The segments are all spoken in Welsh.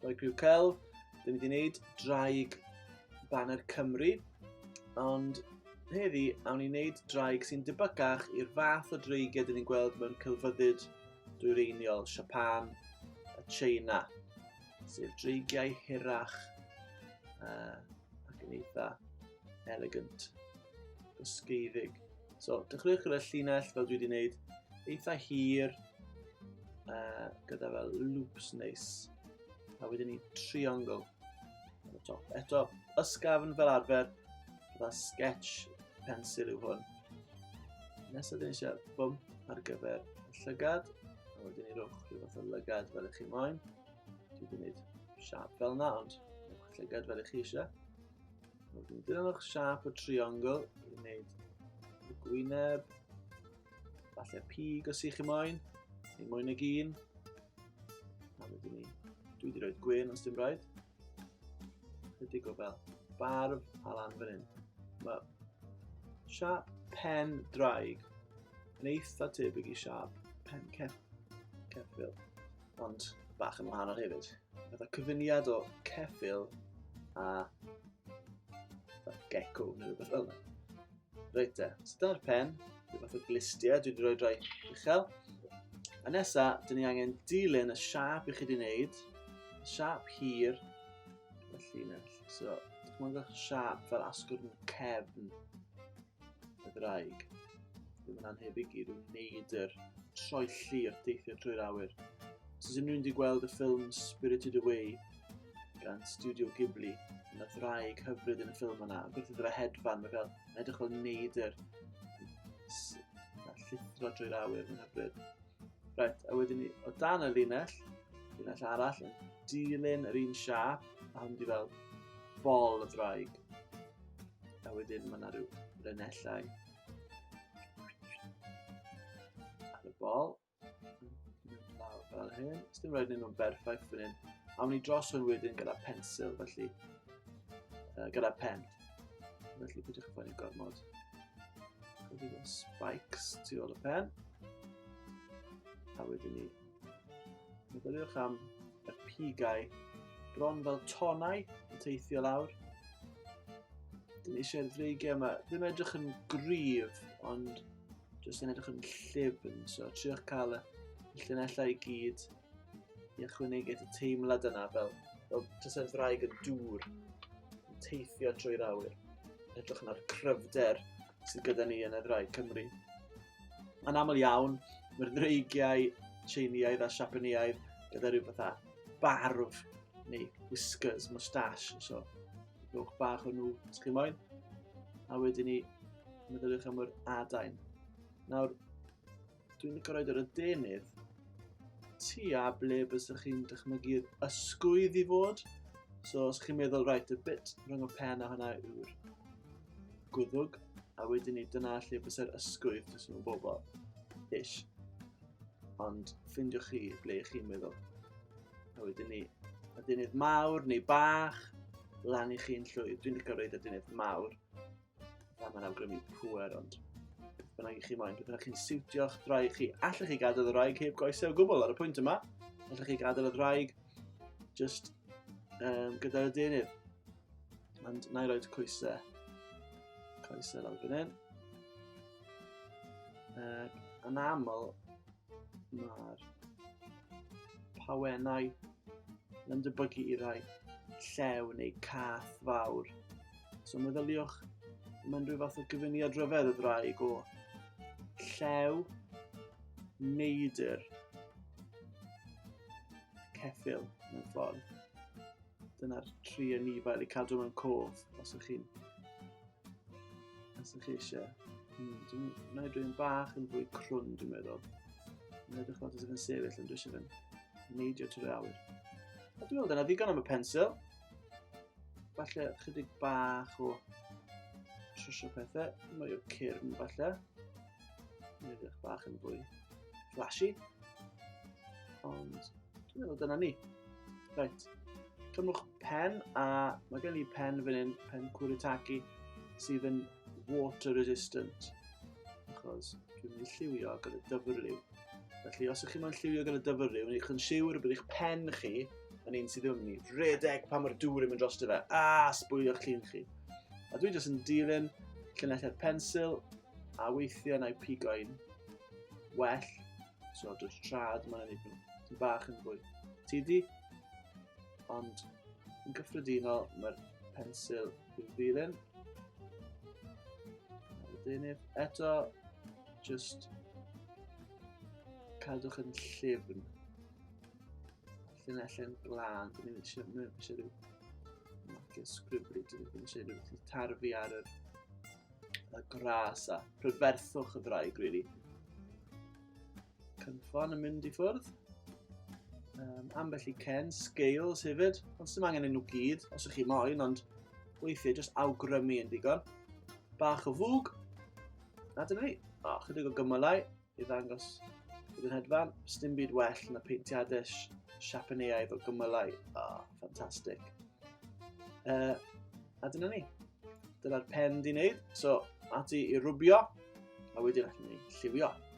Rhoi prif cael, dwi'n mynd i wneud draig Banner Cymru, ond heddi awn i wneud draig sy'n debygach i'r fath o dreigiau dyn ni'n gweld mewn celfyddyd dwyreiniol Siapan a China, sef dreigiau hirach uh, ac yn eitha elegant, ysgeiddig. So, dechreuwch gyda llinell fel dwi wedi gwneud, eitha hir, uh, gyda fel loops neis, a wedyn ni triongl ar y top. Eto, ysgafn fel arfer, gyda sketch pensil yw hwn. Nesaf dyn ni eisiau bump ar gyfer y llygad, a wedyn ni rhywch rhyw fath o lygad fel ych chi moyn. Dwi wedi gwneud siap fel yna, ond Llygad fel ych chi eisiau. Wedyn dilynwch siap y triongl i wneud y gwyneb. Falle pig os ych chi moyn, neu mwy nag un. A wedyn ni, dwi wedi rhoi gwyn os dim rhaid. Chydig o fel barf a lan fan hyn. Mae siap pen draig yn eitha tebyg i siap pen ceffil. ond bach yn wahanol hefyd. Fydda cyfuniad o ceffil a gecko neu rhywbeth fel yna. Reit te, so dyna'r pen, rhywbeth fath o glistiau, dwi wedi rhoi drai uchel. A nesa, dyn ni angen dilyn y siap i chi wedi wneud, y siap hir, y llinell. So, dychmygwch siap fel asgwrn cefn. y ddraig. Bydd yn anhebyg i rwy'n gwneud yr troelli wrth deithio trwy'r awyr. Os unrhyw wedi gweld y ffilm Spirited Away gan Studio Ghibli, yn y ddraig hyfryd yn y ffilm yna, gwrth iddo fe hedfan, mae fel yn edrych fel neidr llithro drwy'r awyr, mae'n hyfryd. Right, a wedyn ni, o dan y linell, linell arall, yn dilyn yr un siap, a hwn di fel bol y ddraig. A wedyn mae yna rhyw renellau ar y bol. Lawr fel hyn. Os dim roed nhw'n berffaith fan hyn. Awn ni dros hwn wedyn gyda pensil, felly. Uh, gyda pen. Felly bydych chi'n fawr gormod. Gwyddi fel spikes tu ôl y pen. A wedyn ni Meddyliwch am y pigau bron fel tonau yn teithio lawr. Dyn eisiau'r ddreigiau yma ddim edrych yn gryf, ond jyst yn edrych yn llifn. So, triwch cael y llunellau i gyd i ychwanegu'r teimlad yna fel, fel jyst yn ddraig y dŵr yn teithio trwy'r awyr. Edrych yna'r cryfder sydd gyda ni yn y ddraig Cymru. Yn aml iawn, mae'r ddreigiau Tsieineaidd a Siapaneaidd gyda rhyw fatha barf neu whiskers, moustache, so rhywch bach o nhw os chi moyn. A wedyn ni, meddyliwch am yr adain. Nawr, dwi'n licio roed yr adenydd tua ble bysych chi'n dychmygu'r ysgwydd i fod. So os chi'n meddwl, right, y bit rhwng y pen a hwnna yw'r Gwddwg, a wedyn ni, dyna lle bysau'r ysgwydd jyst mewn bobl. Ish. Ond ffindio chi ble ych chi'n meddwl. A wedyn ni, y dynydd mawr neu bach, lan i chi'n llwyr. Dwi'n licio reid y dynydd mawr. A mae'n awgrymu pwer, ond bynnag i chi moyn, bynnag chi'n siwtio'ch draig chi. Allech chi gadael y draig heb goesau o gwbl ar y pwynt yma. Allech chi gadael y draig just um, gyda'r dynydd. And na i roed coesau. Coesau lawr fan hyn. Uh, yn aml, mae'r pawennau yn debyggu i rai llew neu cath fawr. So meddyliwch, mae'n rhyw fath o gyfuniad rhyfedd y ddraig o llew, neidr, ceffil mewn ffordd. Dyna'r tri anifail i cadw mewn cof, os ydych chi'n... Os ydych chi eisiau. Hmm, dwi'n gwneud rhywun bach yn fwy crwn, dwi'n meddwl. Yn edrych fel ydych yn sefyll, ond dwi eisiau fe'n neidio trwy'r awyr. A dwi'n meddwl dyna ddigon am y pensil. Falle chydig bach o trwsio pethau, mwy o cyrn falle. Mae'n edrych bach yn fwy flashy. Ond dwi'n meddwl dyna ni. Reit, cymwch pen a mae gen i pen fan hyn, pen Kuritaki, sydd yn water resistant. Achos dwi'n mynd i lliwio gyda dyfrliw. Felly, os ydych chi'n moyn lliwio gan y dyfyru, wneud chi'n siwr bod eich pen chi yn un sydd ymni. Redeg pan mae'r dŵr yn mynd dros dy fe, a sbwylio'ch llun chi. A dwi jyst yn dilyn llunellau'r pensil, a weithiau na'i pigoi'n well, so dwi'n trad mae'n ei nhw. Ti'n bach yn fwy tidi, ond yn gyffredinol mae'r pensil Bydd ddim. Wedyn if eto, just cadwch yn llyfn. Llinelle'n glân, dyn ni'n eisiau, mynd eisiau rhyw marcio sgribri, dyn ni'n eisiau rhyw tarfu ar yr y gras a prydferthwch y ddraig, really. Cynffon yn mynd i ffwrdd. Um, ambell i Ken, Scales hefyd, ond sy'n angen nhw gyd, os ych chi moyn, ond weithiau jyst awgrymu yn digon. Bach o fwg, na dyna ni. O, chydig o gymylau i ddangos bydd yn hedfan. Sdim byd well na peintiadau siapaneaidd o gymylau. O, ffantastig. Uh, a dyna ni. Dyna'r pen di wneud. So, ati i rwbio, a wedyn allan ni lliwio.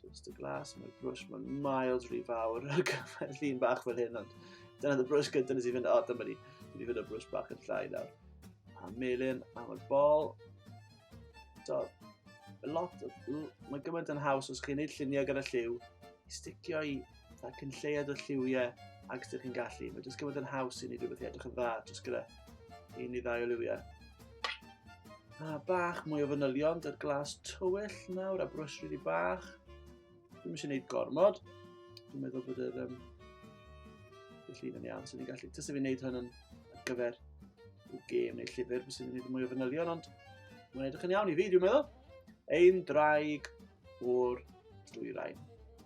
Twist y glas, mae'r brwys, mae'n miles rhy fawr ar gyfer llun bach fel hyn, ond dyna dy brwys gyda nes i fynd, o, dyma ni, dwi wedi fynd o brwys bach yn llai nawr. A melin am y bol. Do, lot, mae gymaint yn haws os chi'n neud lluniau gyda lliw, i sticio i Mae cyn lleiad o lliwiau ac ydych chi'n gallu. Mae jyst gyfod yn haws i ni rhywbeth i edrych yn dda, jyst gyda i ni ddau o liwiau. A bach mwy o fanylion, dy'r glas tywyll nawr a brwys rili bach. Dwi'n eisiau gwneud gormod. Dwi'n meddwl bod yr um, y llun yn iawn, so ni'n gallu, tys i fi wneud hwn yn ar gyfer y gêm neu llyfr, bys i'n gwneud mwy o fanylion, ond mae'n edrych yn iawn i fi, dwi'n meddwl. Ein draig o'r dwyrain.